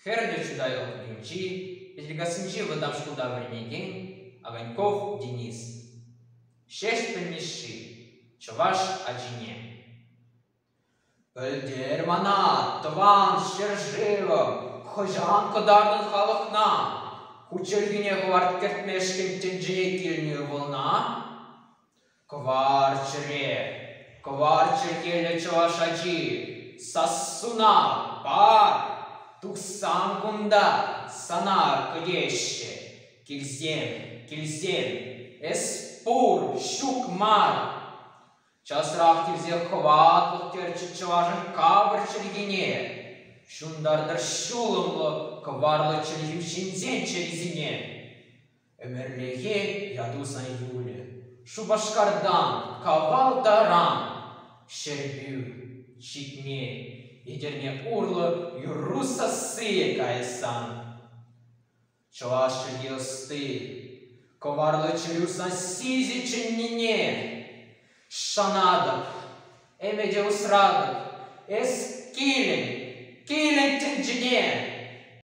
Хӗрлӗ чутайла кунӗнчи Пӗчӗкассинчи вӑтам шкулта вӗренекен Огоньков Денис, Ҫеҫпӗл Мишши, чӑваш ачине. «Пӗлтер мана тӑван ҫӗршывӑм хӑҫан кӑтартӑн халӑхна? Хут чӗлхине хӑварт кӗртмешкӗн тӗнчене килнӗ ывӑлна?» Кӑварчӑрӗ, кӑварчӑр кӗлӗ чӑваш ачи, сассуна пар, тухсам кунта сана кӗтеҫҫӗ. Килсем, килсем, эс пур, ҫук мар. Часрах килсе хӑватлӑх терчӗ чӑвашӑн капӑр чӗлхине. Ҫунтартӑр ҫулӑмлӑ кӑварлӑ чӗлхӳ ҫынсен чӗрисене. Ӗмӗрлӗхе ятусан юлӗ Шупашкартан кавал таран Ҫӗрпӳ чикне Етӗрне урлӑ юрру сассийӗ каяссан Чӑваш чӗлхи ӑсти кӑварлӑ чӗрӳ сасси ҫи чӗннине Шанатӑп, ӗмӗте усратӑп Эс килӗн, килӗн тӗнчене!